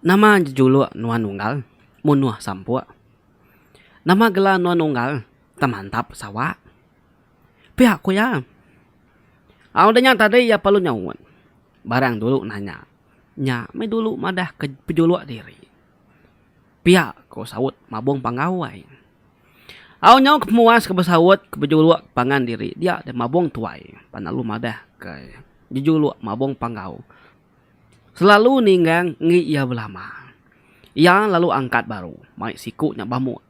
Nama jejuluk nuan unggal munuh sampuk? Nama gelar nuan unggal temantap sawa? Pia ku iya. Au udah nya tadi iya perlu nyaut barang dulu nanya nya meh dulu madah ke pejuluk diri. Pia ku saut Mabong Panggau ai. Au nyau ke pemuas ke besaut ke bejuluk pangan diri dia deh Mabong tuai pan lalu madah ke jejuluk Mabong Panggau selalu ninggang enggi iya belama. Iya lalu angkat baru mai siku nya bamuk.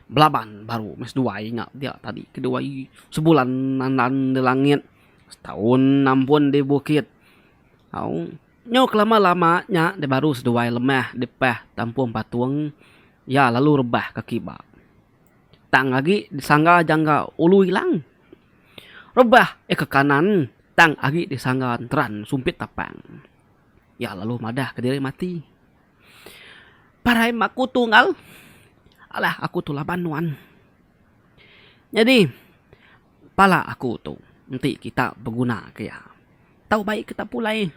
belaban baru meh seduai nya dia tadi kedua i sebulan andan da langit setaun ampun di bukit au nyau ke lama lama nya da baru seduai lemah di pah tampung patung iya lalu rebah ka kiba tang agi di sangga jangka ulu ilang rebah eh ka kanan tang agi di sangga enteran sumpit tapang iya lalu madah ka diri mati. Parai meh aku tunggal. Alah aku tu laban nuan. Nyadi pala aku tu enti kita beguna ke iya tau bai kita pulai.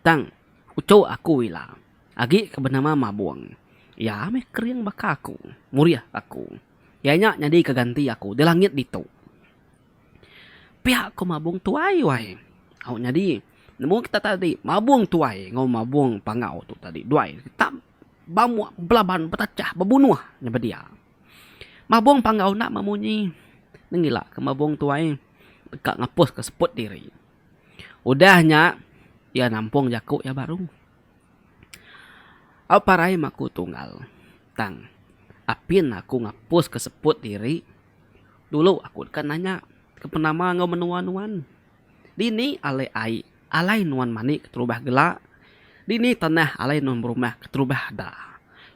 Tang uchu aku ila agi ke benama Mabung iya meh kering baka aku, murih aku. Iya nya nyadi ke ganti aku di langit ditu. Pia ko mabong tuai wai au nyadi nemu kita tadi mabong tuai enggau mabong panggau tu tadi duai tam bamuk belaban betachah bebunuh nyebut dia. Mabong panggau enda meh munyi nengila ke mabong tuai deka ngapus ke seput diri. Udah nya iya nampong jaku iya baru. Au parai meh aku tunggal tang apin aku ngapus ke seput diri. Dulu aku deka nanya ke penama enggau menua nuan. Dini alai ai alai nuan mani keterubah gela? Dini tanah alai nuan berumah keterubah da?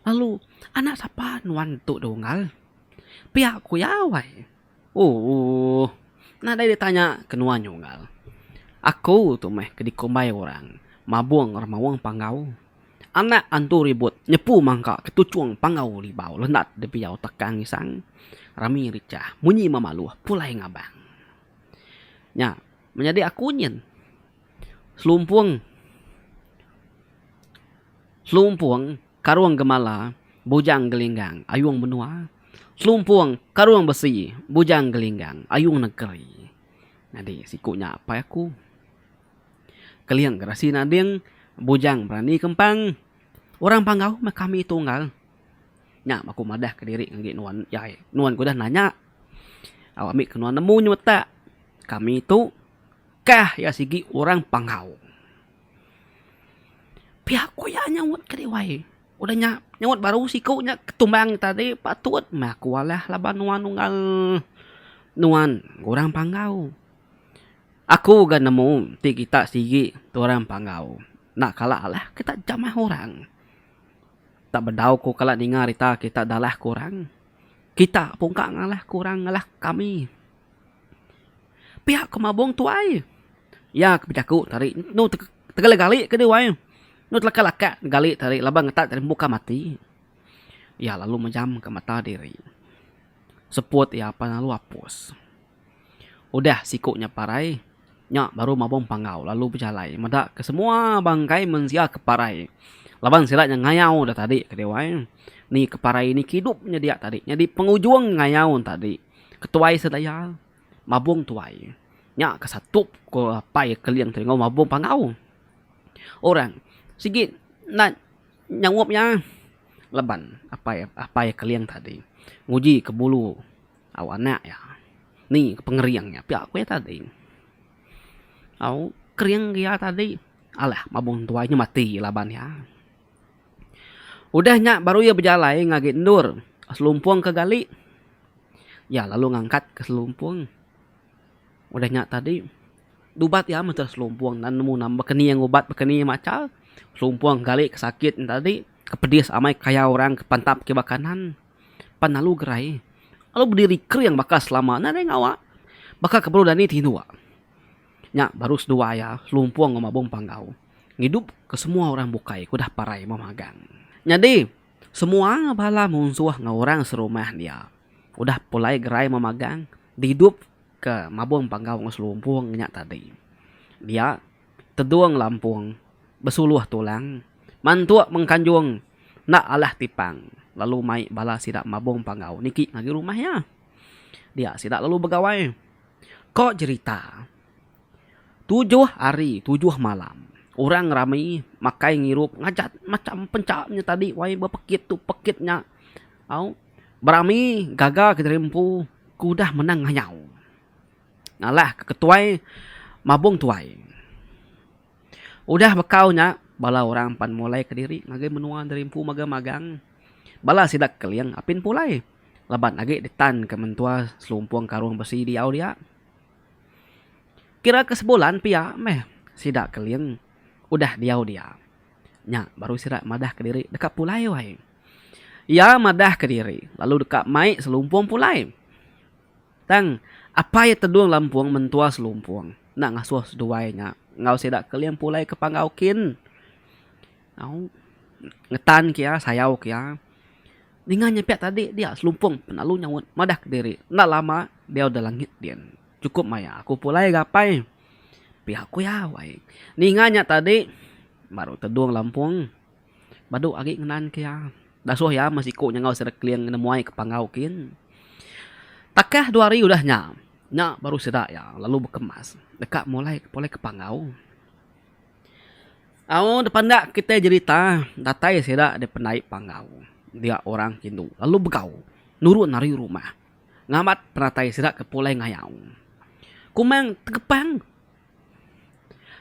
Lalu anak sapa nuan tu da unggal? Pia ku iya wai. Ooh. Nadai ditanya ke nuan nya unggal. Aku tu meh ke dikumbai orang mabung orang maung panggau. Anak antu ribut nyepu mangka ke tuchung panggau libau lendat dipiyau takang isang rami richah munyi memaluh pulai ngabang. Nya menyadi aku nyin selumpung selumpung karung gemala bujang gelinggang ayung menua selumpung karung besi bujang gelinggang ayung negeri. Nyadi siku nya apai aku. Keling gerasi nading bujang berani kempang. Orang Panggau meh kami tunggal. Nya meh aku madahka diri ngagai nuan jai. Nuan ke udah nanya, au ambi ke nuan nemu nyemetak kami tu kah iya sigi orang Panggau. Pia ko iya nyaut ke Dewan. Udah nya nyaut baru siku nya ketumbang tadi patut meh aku alah laban nuan nunggal nuan orang Panggau. Aku ga nemu ti kita sigi tu orang panggau enda kala alah kita jamah orang. Enda bedau ku kala ninga rita kita dalah ku orang. Kita pun ka ngalah ku orang ngalah kami. Pia ku mabung tuai. Iya ke bejaku tadi enu tegala gali ke diuai enu telaka laka gali tadi laban ngetat ari muka mati. Iya lalu mejamka mata diri. Seput iya pan lalu apus. Udah siku nya parai, nya baru mabung panggau lalu bejalai meda ke semua bangkai mensia ke parai laban sida nya ngayau dah tadi ke diwai ni ke parai ni ke idup nya dia tadi nyadi pengujung ngayau tadi ke tuai sedaya mabung tuai nya ke satup ko apai keling tu enggau mabung panggau. Orang sigi enda nyangup iya laban apai apai keling tadi nguji ke bulu. Au anak iya, ni ke pengering iya pia ku iya tadi. Au kering ke iya tadi, alah mabung tuai nya mati laban iya. Udah nya baru iya bejalai ngagai endur selumpung ke gali. Iya lalu ngangkat ke selumpung. Udah nya tadi dubat iya meh entur selumpung nan nemu nama bekening ubat bekening macha selumpung gali ke sakit nya tadi ke pedis amai kayau orang ke pantap kiba kanan. pan alu gerai alu bediri kering baka selama ne deh ngawa baka ke baru dani ti dua nya baru seduai iya selumpung enggau mabung panggau ngidup ke semua orang bukai ke udah parai meh magang. Nyadi semua bala munsuh enggau orang serumah dia udah pulai gerai meh magang didup ke mabung panggau enggau selumpung nya tadi dia tedung lampung besuluh tulang, mantuk mengkanjung enda alah tipang lalu mai bala sida mabung panggau niki ngagai rumah iya. Dia sida lalu begawai. Ko jerita tujuh hari tujuh malam orang rami makai ngirup ngajat macham pencha nya tadi wai bepekit tu pekit nya au berami gaga kediri empu ke udah menang ngayau. Ngalah ke ketuai mabung tuai. Udah bekau nya bala orang pan mulai ke diri ngagai menua diri empu mega magang. Bala sida ke keling apin pulai laban agi ditan ke mentua selumpung karung besi diau dia. Kira ke sebulan pia meh sida keling udah diau dia. Nya baru sida madah ke diri deka pulai wai. Iya madah ke diri lalu deka mai selumpung pulai. Tang, apai Tedung Lampung mentua Selumpung enda ngasuh seduai nya enggau sida Keling pulai ke Panggau kin. Au, ngetan ke iya, sayau ke iya. Ninga nya pia tadi dia Selumpung penelalu nyaut madah kediri enda lama diau da langit din. Chukup maya aku pulai ga apai. Pia ku iya wai. Ninga nya tadi baru Tedung Lampung. Badu agi ngenan ke iya. Dasuh iya meh siku nyangau sida Kling ngena muai ke panggau kin. Takah dua hari udah nya, nya baru sida iya lalu bekemas deka mulai pulai ke panggau. Au depan enda kitai jerita, datai sida daripada pendai panggau dia orang ke indu lalu begau nurun ari rumah ngambat penatai sida ke pulai ngayau. Kumang tegepang.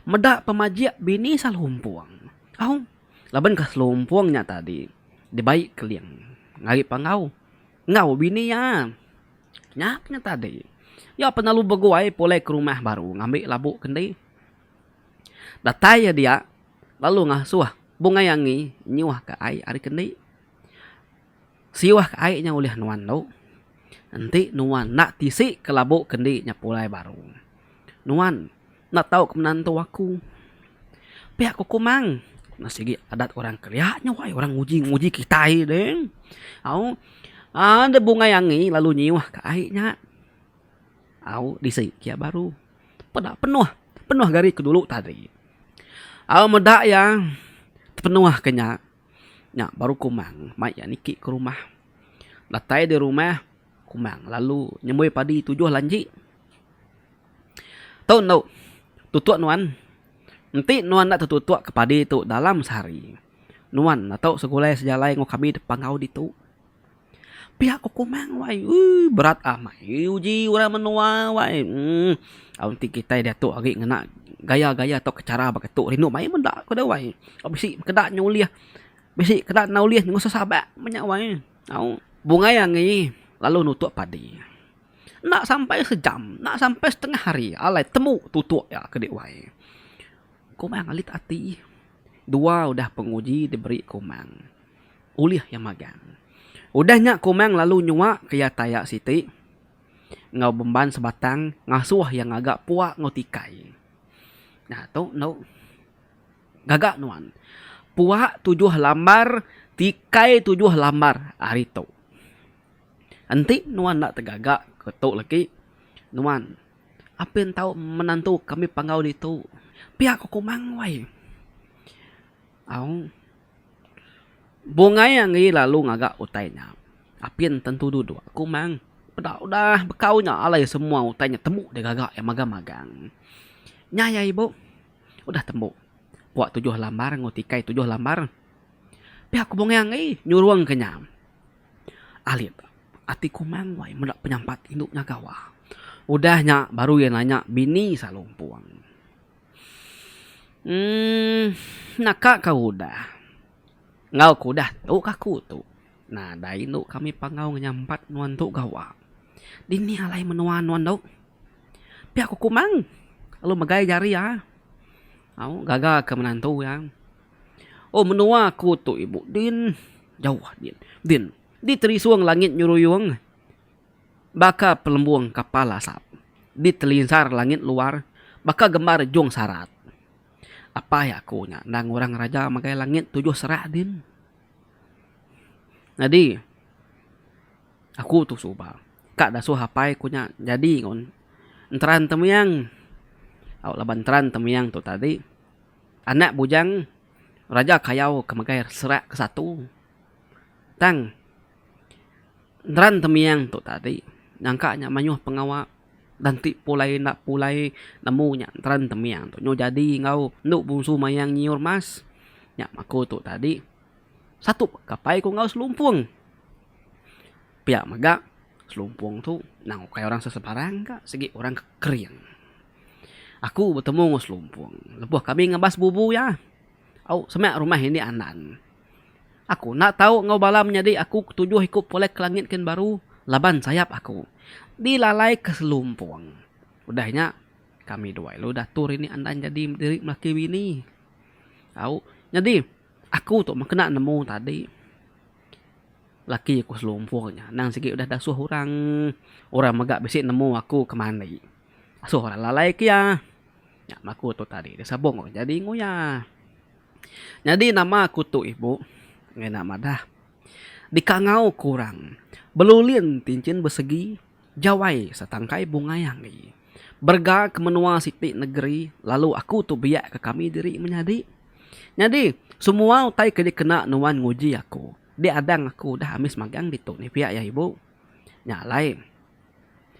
Meda pemajik bini Selompong. Au, labankah Selompong nya tadi dibai Keling ari Panggau enggau bini iya? Nya pun tadi. Iya pun lalu beguai pulai ke rumah baru ngambi labu ke enti. Datai iya dia lalu ngasuh Bungai Angi nyuhka ai ari ke enti. Siwah ke ai nya ulih nuan tu, enti nuan enda tisi kelabu ke endi nya pulai baru. Nuan enda tau ke menantu aku. Pia ku Kumang, nya sigi adat orang Kelia nya wai, orang nguji nguji kitai deh. Au aaa deh bungai angi lalu nyiwah ke ai nya. Au disi ke iya baru. Peda penuh, penuh ke ari dulu tadi. Au meda iya tepenuh ke nya. Nya baru Kumang mai iya niki ke rumah. Datai di rumah, Kumang lalu nyemoi padi tujuh lanji. Tu endo, tutuk nuan. Enti nuan enda tetutuk ke padi tu dalam sehari, nuan enda tau segulai sejalai enggau kami depang enggau ditu. Pia ku kumang wai ui berat amai uji orang menua wai um aum ti kitai diatu agi ngena gaya-gaya tau cara baka tu rindu mayuh meda ku dau wai tau bisi keda nyulih bisi keda nyulih ngunsuh sabak meh nya wai au bungai angi lalu nutuk padi enda sampai sejam enda sampai setengah hari alai temu tutuk iya ke dek wai kumang alit ati. Dua udah penguji diberi Komang ulih iya magang. Udah nya Komang lalu nyuak ke iya taya siti enggau bemban sebatang ngasuh iya ngaga pua enggau tikai. Nah tu endo gaga nuan. Pua tujuh lambar tikai tujuh lambar ari tu. Enti nuan enda tegaga ke tu legi, nuan apin tau menantu kami panggau ditu. Pia ko Komang wai. Au. Bungai angi lalu ngaga utai nya. Apin tentu duduk Komang. Peda udah bekau nya alai semua utai nya tembu deh gaga iya magang-magang. Nya iya ibu. Udah tembu. Pua tujuh lambar enggau tikai tujuh lambar. Pia ko Bungai angi nyurung ke nya. Alit. Ati Komang wai meda penyampat indu nya gawa. Udah nya baru iya nanya bini Salu Empung. Emm naka ka udah. Enggau ku udah tu ka aku tu. Nadai indu kami pangau ngenyampat nuan tu gawa. Dini alai menua nuan tu? Pia ku Komang lalu megai jari iya. Au gaga ke menantu iya. Oh menua aku tu ibu din jauh din din di terisung langit nyuruyung baka pelembung kapal asap di telinsar langit luar baka gembar jung sarat apai aku nya endang orang raja magai langit tujuh serak din nyadi aku tu suba ka dasuh apai ku nya nyadi un enteran temiang au laban enteran temiang tu tadi. Anak bujang Raja Kayau ke megai serak ke satu tang neran temiang tu tadi nyangka nya mayuh pengawa dan ti pulai enda pulai nemu nya neran temiang tu nyau jadi enggau enu bungsu mayang nyiur mas nya aku tu tadi satu kapai ku enggau selumpung pia mega selumpung tu nang ukai orang sesebarang ka sigi orang ke kering. Aku betemu enggau Selumpung lebuh kami ngebas bubu iya. Au, semak rumah indi Andan. Aku enda tau enggau bala menyadi aku ke tujuh iku polek ke langit kin baru laban sayap aku dilalaika Selumpung. Udah nya, kami dua lalu diatur indi Andan nyadi diri melaki bini. Au, nyadi aku tu meh kena nemu tadi laki ku Selumpung nya. Anang sigi udah dasuh orang, orang mega bisi nemu aku ke mandi. Asoh orang lalai kia. Nya maku tu tadi dah sabong orang jadi nguya. Nyadi nama aku tu ibu ngena madah dikangau ku orang belulin ti enchin besegi jawai setangkai bungai anggi. Berega ke menua siti negeri lalu aku tu biak ke kami diri menyadi. Nyadi semua utai ke dikena nuan nguji aku di adang aku dah amis magang ditu ni pia ya ibu. Nya alai.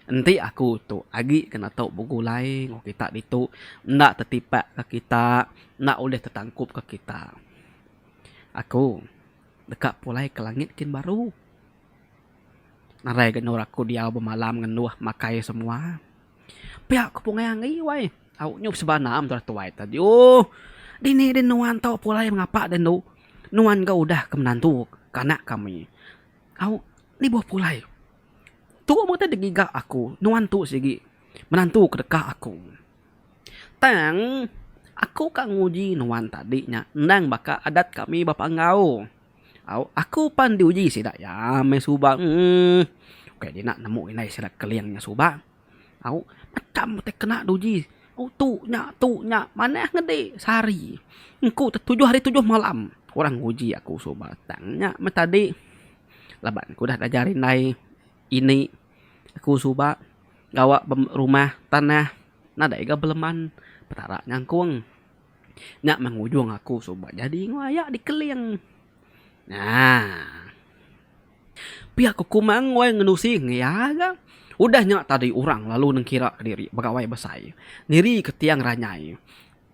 Enti aku tu agi ke netu begulai enggau kita ditu enda tetipak ka kita enda ulih tetangkup ka kita. Aku deka pulai ke langit kin baru. Narai genur aku diau bemalam ngenduh makai semua. Pia ku pungai angi wai. Au nyup seba anam tuan tuai tu adiuh. Dini din nuan tu pulai mengapa din tu. Nuan ga udah ke menantu ke anak kami. Au nibuh pulai. Tu mega ti ngiga aku nuan tu sigi menantu ke deka aku. Tang aku ka nguji nuan tadi nya endang baka adat kami ba Panggau. Au aku pan diuji sida iya meh suba uhh ukai dina nemu indai sida keling nya suba. Au mecham utai kena diuji au tu nya tu nya manah ngedi sehari engku tujuh hari tujuh malam orang nguji aku suba tang nya meh tadi. Laban ku udah ngajar indai ini aku suba gawa rumah tanah nadai ga beleman Petara nyangkung. Nya mah ngujung aku suba nyadi ngelaya dikeling. Aaa. Pia ku kumang wai ngenusi ngi iya ga. Udah nya tadi orang lalu nengkira diri begawai besai. Nirika tiang ranyai.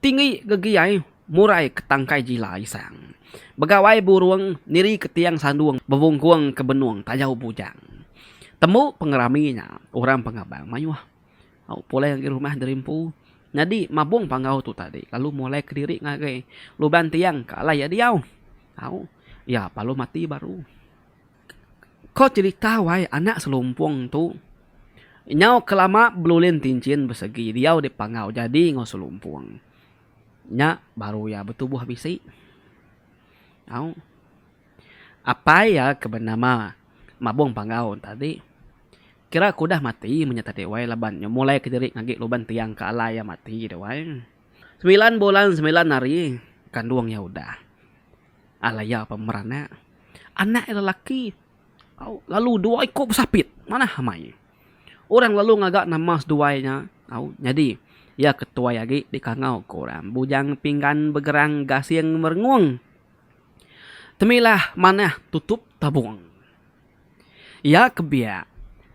Tinggi gegiai murai ke tangkai jila isang. Begawai burung niri ke tiang sandung bebungkung ke benung tajau bujang. Tembu pengerami nya orang pengabang mayuh au pulai ngagai rumah diri empu nyadi mabung panggau tu tadi lalu mulai kediri ngagai luban tiang ke alai iya diau au iya palu mati baru. Ko cerita wai anak selumpung tu. Nyau ke lama belulin tinchin besegi diau dipangau jadi enggau selumpung. Nya baru iya betubuh bisi. Au. Apai iya ke benama Mabong Panggau tadi kira ke udah mati men nya tadi wai laban nya mulai ke diri ngagi luban tiang ke alai iya mati wai. Semilan bulan semilan hari kandung iya udah. Alai iya pemeranak anak iya lelaki au lalu dua iku besapit manah amai. Orang lalu ngaga nama seduai nya au nyadi iya ke tuai agi dikangau ku orang Bujang Pinggan Begerang Gasing Merengung. Temilah manah tutup tabung. Iya ke biak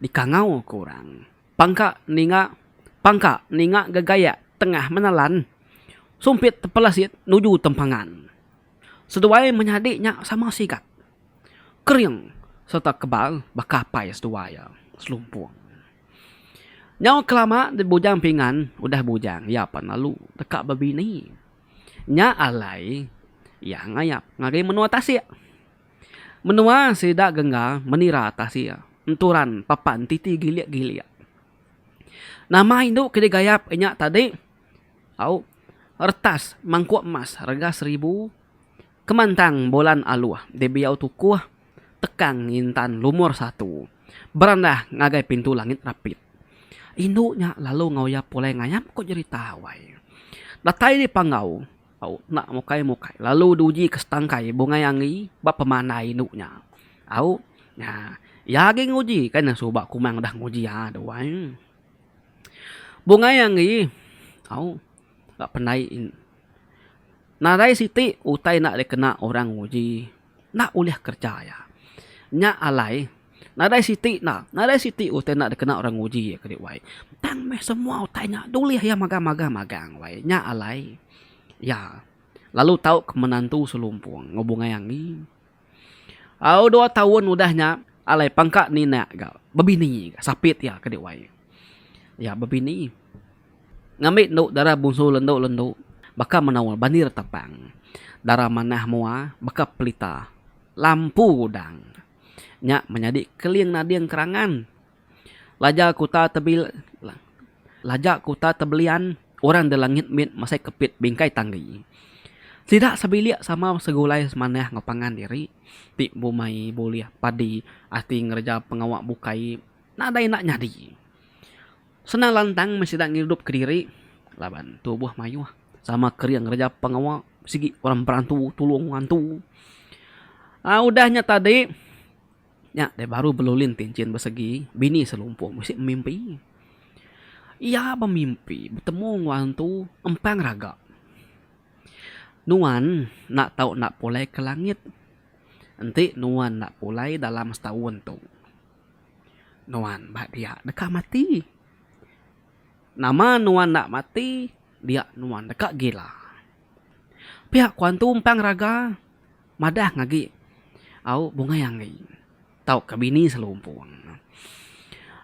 dikangau ku orang. Pangka ninga Pangka ninga gegayak tengah menelan sumpit tepelesit nuju tempangan. Seduai menyadi nya sama sigat, kering sereta kebal baka apai seduai iya, Selumpung. Nyau kelama dep bujang pingan udah bujang iya pan lalu deka bebini. Nya alai iya ngayap ngagai menua tasik. Menua sida gengga menira tasik enturan papan titi gilik-gilik. Nama indu ke digayap inya tadi? Au, retas mangkuk emas rega seribu, kemantang bulan aluh dibiau tukuh, tekang ngintan lumur satu, berandah ngagai pintu langit rapit. Indu nya lalu ngoyap pulai ngayap ko jerita awai. Datai dipanggau. Au enda mukai mukai lalu diuji ke setangkai bungai angi ba pemandai indu nya. Au nya iya agi nguji kai ne suba kumang udah nguji aa dua ai. Bungai angi au ba pendai nadai siti utai enda dikena orang nguji. enda ulih kerja iya. Nya alai nadai siti enda, nadai siti utai enda dikena orang nguji iya kadi wai. Tang meh semua utai nya dulih iya magang-magang magang wai. Nya alai iya lalu tau ke menantu selumpung ngubungai angi. Au dua taun udah nya alai pangka ninak ga bebini ga sapit iya kadi wai. Iya bebini. Ngambi endu dara bungsu lendu-lendu baka menoa bani retapang, dara manah moa baka pelita lampu udang. Nya menyadi keling nading kerangan laja kuta tebil laja kuta tebelian orang de langit mit masai kepit bingkai tanggi. Sida sebilik sama segulai semanah enggau pangan diri ti bumai bulih padi ati ngereja pengawa bukai nadai enda nyadi. Senang lantang meh sida ngidupka diri laban tubuh mayuh sama kering ngereja pengawa sigi orang berantu tulung ngantu. Aa udah nya tadi nya deh baru belulin ti enchin besegi bini selumpuk mesti bemimpi. Iya bemimpi betemu enggau antu empang raga. Nuan enda tau enda pulai ke langit enti nuan enda pulai dalam setaun tu. Nuan ba dia deka mati. Nama nuan enda mati dia nuan deka gila. Pia ku antu umpang raga madah agi au bungai anggi tauka bini selumpung.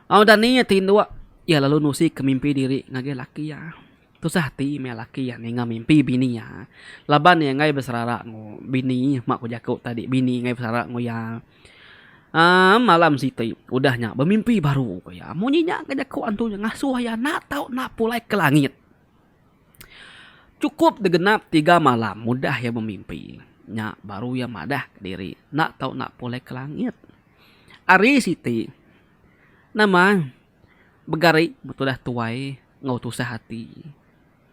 Au dani iya ti indu iya lalu nusika mimpi diri ngagai laki iya. Tusah ati maya laki iya ninga mimpi bini iya laban iya enggai beserara enggau bini mak ku jaku tadi bini enggai beserara enggau iya. Aaa malam siti udah nya bemimpi baru ku iya. Munyi nya ke jaku antu nya ngasuh iya enda tau enda pulai ke langit. Chukup degenap tiga malam udah iya bemimpi nya baru iya madah kediri enda tau enda pulai ke langit. Ari siti nama begari betulah tuai enggau tusah ati.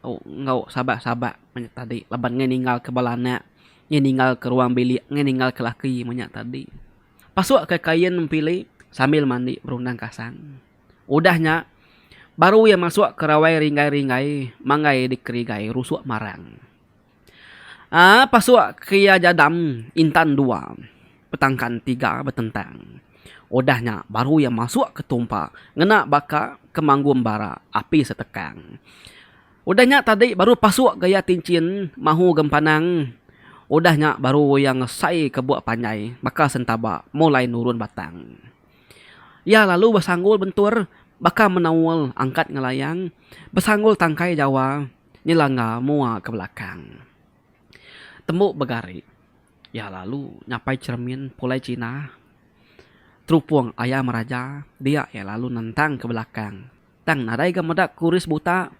enggau sabat-sabat manya tadi laban ngai ninggalka bala anak, ngai ninggalka ruang bilik, ngai ninggalka laki manya tadi. Pasukka kain pili sambil mandi berundang kasang. Udah nya baru iya masukka rawai ringgai-ringgai manggai dikerigai rusuk marang. Aa pasuk kria jadam intan dua petangkan tiga betentang udah nya baru iya masuk ke tumpa ngena baka ke manggum bara api setekang udah nya tadi baru pasuk gaya tinchin mahu gempanang udah nya baru iya ngesai ke buk panjai baka sentaba mulai nurun batang iya lalu besanggul bentur baka menaul angkat ngelayang besanggul tangkai jawa. Ni langga mua ke belakang. Tembu begari iya lalu nyapai cheremin pulai China. Terupung aya meraja dia iya lalu nentang ke belakang tang nadai ga meda kuris buta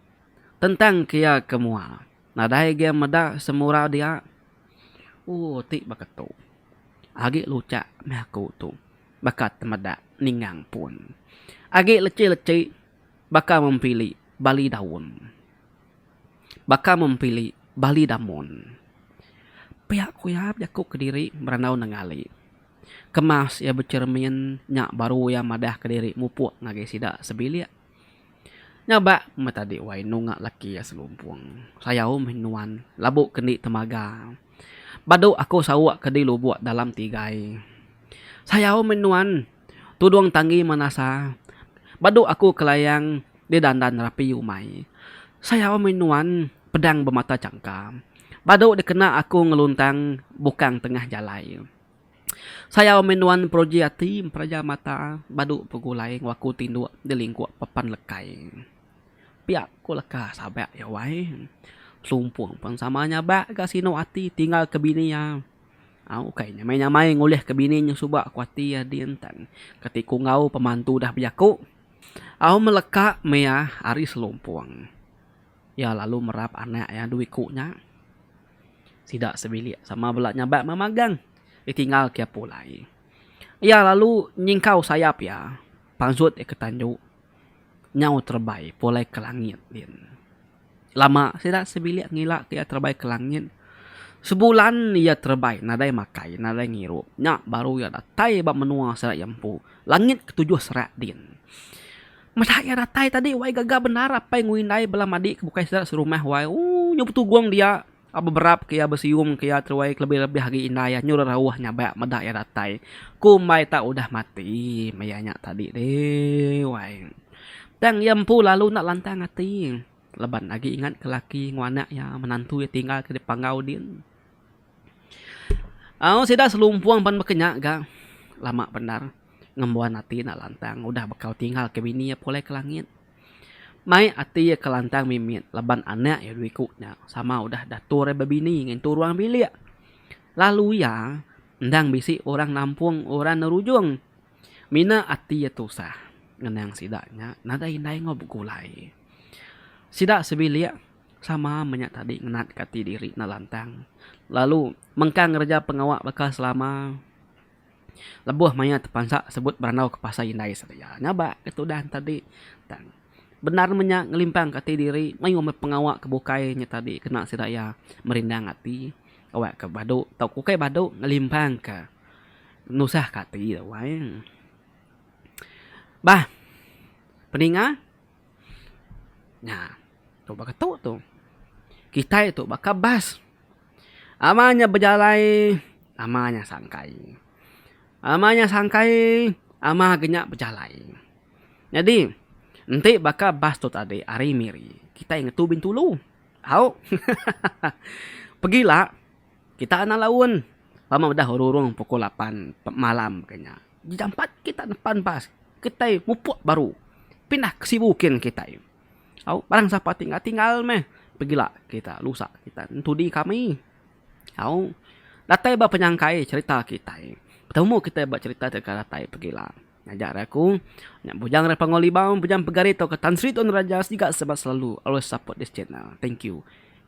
tentang ke iya ke mua nadai ga meda semura dia. Ooh ti baka tu agi luchak meh aku tu baka temeda ningang pun agi lechi-lechi. Baka mempili bali daun. Baka mempili bali damun. Pia ku iya bejaku kediri berandau nengali. Kemas iya becermin nya baru iya madah kediri mupuk ngagai sida sebilik. Nya ba meh tadi wai enu enggau laki iya selumpung. Sayau meh nuan labu ke enti temaga. Badu aku sauk ke di lubuk dalam tigai. Sayau meh nuan. Tudung tanggi manasa badu aku kelayang di dandan rapi umai. Sayau mih nuan pedang bemata changka badu dikena aku ngeluntang bukang tengah jalai. Sayau mih nuan peruji ati memperaja mata badu begulai enggau aku tinduk di lingkuk papan lekai. Pia ku leka Sabak iya wai. Selumpung pen sama nyabak ga sinu ati tinggal ke bini iya. Ukai nyamai-nyamai ngulihka bini nya suba ku ati iya din tan kati ku enggau pemantu dah bejaku. Au meleka mea ari selumpung. Iya lalu merap anak iya dua iku nya sida sebilik sama bela nyabak meh magang ditinggal kiya pulai. Iya lalu nyingkau sayap iya panjut iya ke tandu nyau terebai pulai ke langit din. Lama sida sebilik ngila ke iya terebai ke langit. Sebulan iya terebai nadai makai nadai ngirup. Nya baru iya datai ba menua sida iya empu. Langit ketujuh serak din. Meda iya datai tadi wai gaga bendar apai enggau indai bala madi ke bukai sida serumah wai. Ooh nyau betugung dia. Ba beberap ke iya besium ke iya teruai kelebih-lebih agi indai iya nyul rauh nyabak meda iya datai. Ku mbai tak udah mati meh iya nya tadi deh wai. Tang iya empu lalu enda lantang ati laban agi ingat ke laki enggau anak iya menantu iya tinggal ke Panggau din. Au sida selumpung pan baka nya ga lama bendar ngembuan ati enda lantang udah bekau tinggal ke bini iya pulai ke langit. Mai ati iya ke lantang mimit laban anak iya dua iku nya sama udah dator iya bebini ngintu ruang bilik. Lalu iya endang bisi orang nampung orang nerujung. Mina ati iya tusah ngenang sida nya nadai indai enggau begulai. Sida sebilik sama menya tadi ngenatka ati diri enda lantang lalu mengkang ngereja pengawa baka selama. Lebuh maya tepansa sebut berandau ke pasar indai sedia ngabak ke tudan tadi tang bendar menya ngelimpang ke ati diri mayuh meh pengawa ke bukai nya tadi kena sida iya merindang ati kawa ke badu tau ke ukai badu ngelimpang ke nusah ke ati wai. Bah peninga. Nya. Tu baka tu tu. Kitai tu baka bas. Ama nya bejalai, ama nya sangkai. Ama nya sangkai, ama ga nya bejalai. Nyadi, enti baka bas tu tadi ari Miri, kitai ngetu Bintulu. Au. Hahaha. Pegila, kita anang laun. Ba meh udah rurung pukul lapan malam ke nya. Jampat kita nepan bas kitai mupuk baru pindah ke sibu kin kitai. Au barang sapa ti tinggal tinggal meh pegila kita lusa kita entudi kami. Au datai ba penyangkai cherita kitai betemu kitai ba cherita ti akan datai pegila. Ngajar aku nya bujang rak Pangu Limau bujang pegari tauka Tan Sri Tun Raja siga selalu always support this channel. Thank you.